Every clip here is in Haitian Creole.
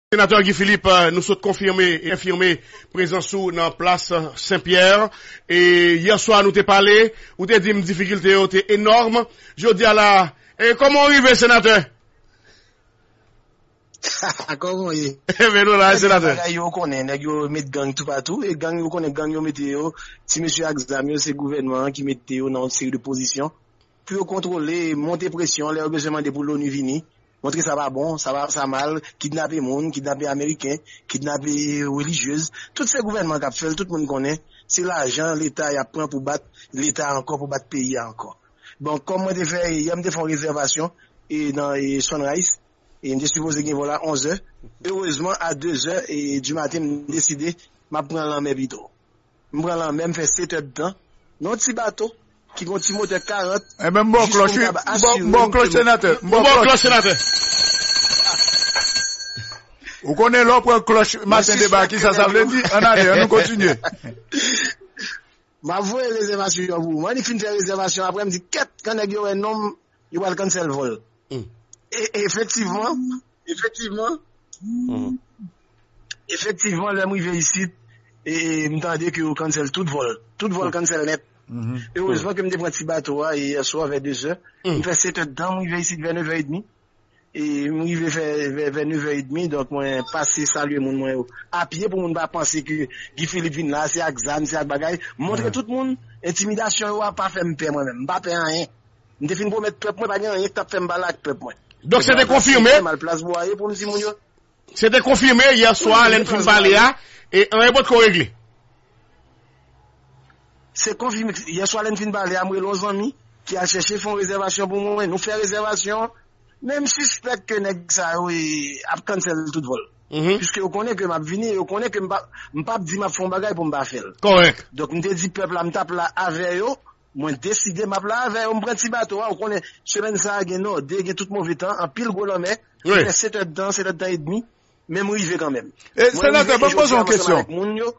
Senatè Guy Philippe, nou sot konfime e enfime prezans ou nan plas Sen Pyè. E yè swa nou te pale, ou te di m difikilte yo te enòm. Jodi a la, e kòman ou rive Senatè? Kòman ou ye? E ben nou la e Senatè. Nèg yo konnen, nèg yo met gang toupatou. E gang yo konnen gang yo mete yo, ti mesye ak zam yo se gouvènman an ki mete yo nan yon seri de pozisyon. Pou yo kontwole, monte presyon lè yo bezwen mande pou l'ONU vini, montre sa pa bon, sa mal, kidnape moun, kidnape ameriken, kidnape relijyez, tout se gouvènman k'ap fèl, tout moun konnen, se lajan leta y'ap pran pou bat leta ankò, pou bat peyi a ankò. Bon, kòm mwen te fè, yè m'te fè yon rezèvasyon nan Sunrise, m'te sipoze gen vòl a 11 zè, erezman a 2 zè du maten m'deside m'ap pran lanmè pito. M pran lanmè, m fè setèdtan nan yon ti bato ki gen yon ti motè 40 Enben m ba w jis pou klòch m wi, kab m ba asire w klòch ke m senatè, m ba w klòch senatè. Ou konnen lè w pran klòch Matin Débat kisa sa vle di? Ann ale, annou kontinye. M ap voye rezèvasyon an pou ou. M annik fin fè rezèvasyon an aprè m di kèt kan nèg yo wè non m Yo pral cancel vol. Efektivman, efektivman, efektivman lè m rive isit, m tande ke yo cancel tout vol. Tout vol cancel nèt. Erezman ke m te pran ti bato a yè swa vè 2 zè. M fè 7 è dan, m rive isit vè 9 è edmi. M rive vè nevè edmi donk mwen pase salye moun mwen yo a pye pou moun pa panse ke Guy Philippe vin la se ak zam, se ak bagay. M montre tout moun entimidasyon yo a pa fè m pè mwen menm. M pa pè anyen. M te fin pwomèt pèp mwen pa gen anyen k t ap fè m pale ak pèp mwen. Donk se te konfime? Se te konfime yè swa lè n fin pale a e anyen potko regle. Se konfime yè swa lè n fin pale a, m rele yon zanmi ki al chèche fè yon rezèvasyon pou mwen, nou fè rezèvasyon an men m sispèk ke nèg sa yo ap cancel tout vòl piske yo konnen ke m ap vini e yo konnen ke m pap di m ap fè yon bagay pou m pa fè l. Kòrèk. Donk m te di pèp la m t ap la avè yo Mwen deside map la avè yo, m pran ti bato a, ou konnen semèn sa gen nòde, gen tout move tan, anpil gwo lanmè, m fè 7 èd tan, 7 èd tan edmi, men m rive kanmenm. Mwen rive e jodi a m ansanm avèk moun yo.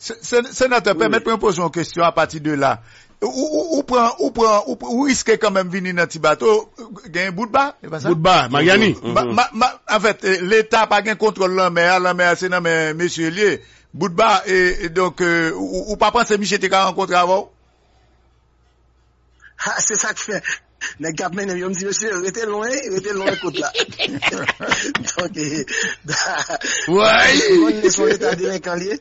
Senatè, pèmèt mwen poze yon kesyon a pati de la. Ou pran, ou pran, ou riske kanmenm vini nan ti bato, gen yon bout ba, e pa sa? Bout ba, Maryani. Anfèt, leta pa gen kontwòl lanmè a, lanmè a se nan men mesye li ye. Boutba e donk ou pa panse misye te ka rankontre avè w? Ha se sa k fè nèg k ap mennen m yo m di mesye rete lwen rete lwen kot la donk e m konnen se yon leta delenkan li ye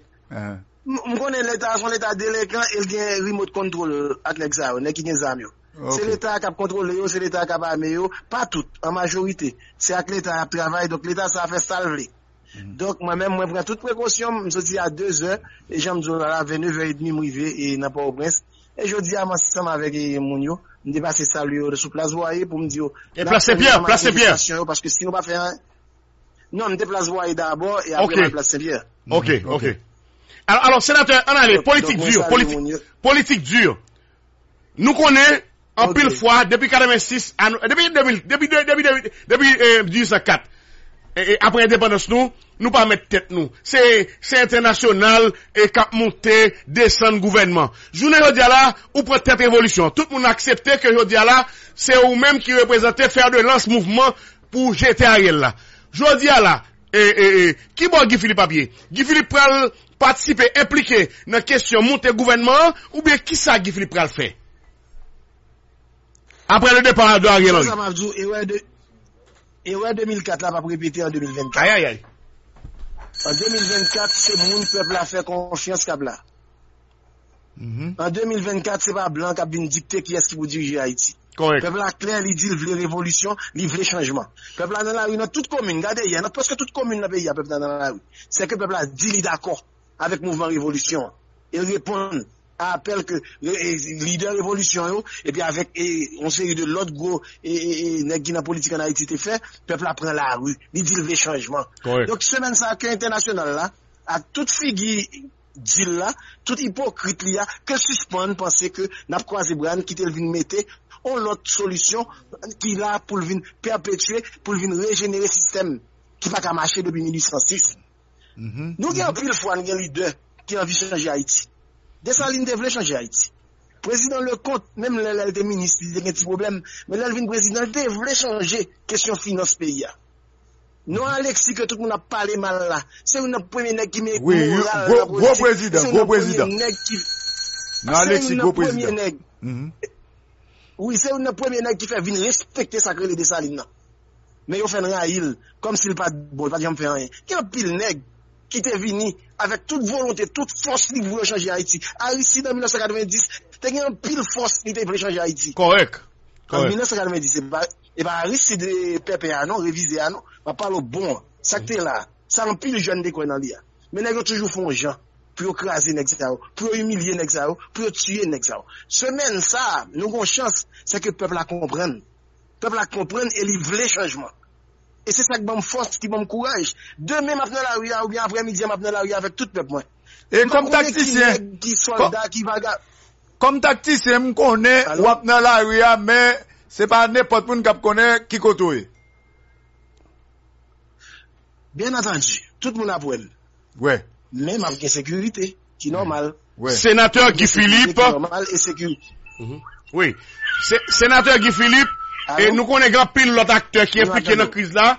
m konnen leta a se yon leta delenkan e l gen rimot kontwol ak nèg sa yo nèg ki gen zam yo se leta a k ap kontwole yo se leta a k ap ame yo pa tout an majorite se ak leta y ap travay donk leta sa a fè sa l vle. Donk mwen menm mwen pran tout prekosyon m, m soti a dezè e jan m di w la la vè nevè edmi m rive nan Pòtoprens e jodi a m ansanm avèk moun yo m te pase salye yo sou plas Bwaye pou m di yo n ap fè nouvo manifestasyon yo paske si nou pa fè anyen non m te plas Bwaye dabò e aprè m al plas Senpyè. Ok ok alò senatè an n ale politik di yo politik di yo Nou konnen, anpil fwa, depi 86, depi 2000, depi 1804, apre endepandans nou, nou pa mèt tèt nou. Se, se entènasyonal k ap moute, desann gouvènman. Jounen jodi a la, ou pran tèt revolisyon. Tout moun aksepte ke jodi a la, se ou menm ki reprezante fer de lans mouvman pou jete Ariel la. Jodi a la. E e e ki bò Guy Philippe ap ye? Guy Philippe pral patisipe, enplike nan kesyon moute gouvènman an oubyen kisa Guy Philippe pral fè aprè le départ de Ariel Henry? Konsa map di w erè de erè 2004 la pap repete an 2024. Ayayay. An 2024 se moun pèp la fè konfyans kap la. An 2024 se pa blan kap vin dikte kiyès ki pou dirije Ayiti. Pèp la klè li dil vle revolisyon, li vle chanjman. Pèp la nan lari nan tout komin, gade yè nan prèske tout komin nan peyi a pèp la nan lari. Se ke pèp la di li dakò avèk mouvman revolisyon an. El reponn a apèl ke lidè revolisyon yo epi avèk yon seri de lòt gwo nèg ki nan politik an Ayiti te fè, pèp la pran lari, li dil vle chanjman. Donk semèn sa ke entènasyonal la ak tout figi. dil la, tout ipokrit li a, ke l sispann panse ke n ap kwaze bra n kite l vin mete on lòt solisyon ki la pou l vin pèpetye, pou l vin rejenere sistèm ki pa ka mache depi 1806. Nou gen anpil fwa n gen lidè ki anvi chanje Ayiti. Desalin te vle chanje Ayiti. Prezidan Lekont, menm lè lè l te minis li te gen ti pwoblèm, men lè l vin prezidan l te vle chanje kesyon finans peyi a. Non Alexis ke tout moun ap pale mal la, se youn nan premye nèg ki men moral nan politik, se youn nan premye nèg ki, se youn nan premye nèg, wi se youn nan premye nèg ki fè vin respekte sa k rele Dessalines nan. Men yo fè n rayi l, kòm si l pa t bon, l pa t janm fè anyen. Gen anpil nèg ki te vini avèk tout volonte, tout fòs li pou yo chanje Ayiti. Aristide an 1990 te gen anpil fòs li te vle chanje Ayiti. Kòrèk, kòrèk. An 1990 se pa. E pa Aristide pèpè a non, revize a non. M ap pale w bon an. Sa k te la a, sa anpil jèn te kwè nan li a. Men nèg yo toujou fè yon jan pou yo kraze nèg sa yo, pou yo imilye nèg sa yo, pou yo tiye nèg sa yo. Semèn sa a, nou gen yon chans, se ke pèp la konprann. Pèp la konprann e li vle chanjman. E se sa k ban m fòs, ki ban m kouraj. Demen m ap nan lari a oubyen aprè midi a m ap nan lari a avèk tout pèp mwen. M pa konnen ki nèg, ki sòlda, ki vaga. Kòm taktisyen m konnen w ap nan lari a men se pa nenpòt moun k ap konnen ki kote w ye. Byen antandu, tout moun ap wè m. Men m ap gen sekirite ki nòmal. Senatè Guy Philippe, Wi, Senatè Guy Philippe, nou konnen gen anpil lòt aktè ki enplike nan kriz la.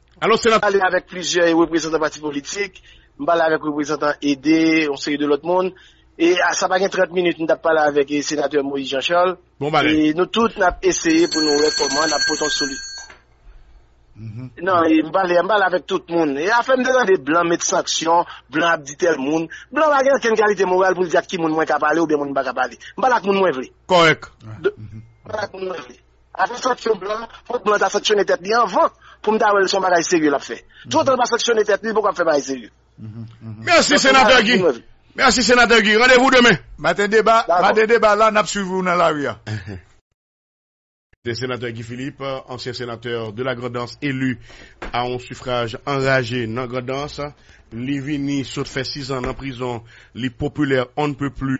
Alos se nan. Pale avèk plizyè reprezantan pati politik, m pale avèk reprezantan ede, yon seri de lòt moun, e sa pa gen 30 minit m tap pale avèk senatè Moïse Jean Charles, e nou tout nap eseye pou nou wè kòman nap pote yon soli. Nan, m pale, m pale avèk tout moun. E afè m te tande blan met sanksyon, blan ap di tèl moun, blan pa gen okenn kalite moral pou l di ak ki moun mwen ka pale oubyen moun m pa ka pale. M pale ak moun mwen vle. Kòrèk. M pale ak moun mwen vle. Afè sanksyon blan, fòk blan ta sanksyone tèt li anvan pou m ta wè l se yon bagay serye l ap fè. Toutotan l pa sanksyone tèt li, l poko ap fè bagay serye. Mèsi Senatè Guy. Mèsi Senatè Guy. Randevou demen. Maten deba, maten deba la, n ap swiv ou nan lari a. Sete Senatè Guy Philippe, ansyen Senatè de la Grandans elu a yon sifraj anraje nan Grandans. Li vini sot fè sizan nan prizon, li popilè on ne peut plus.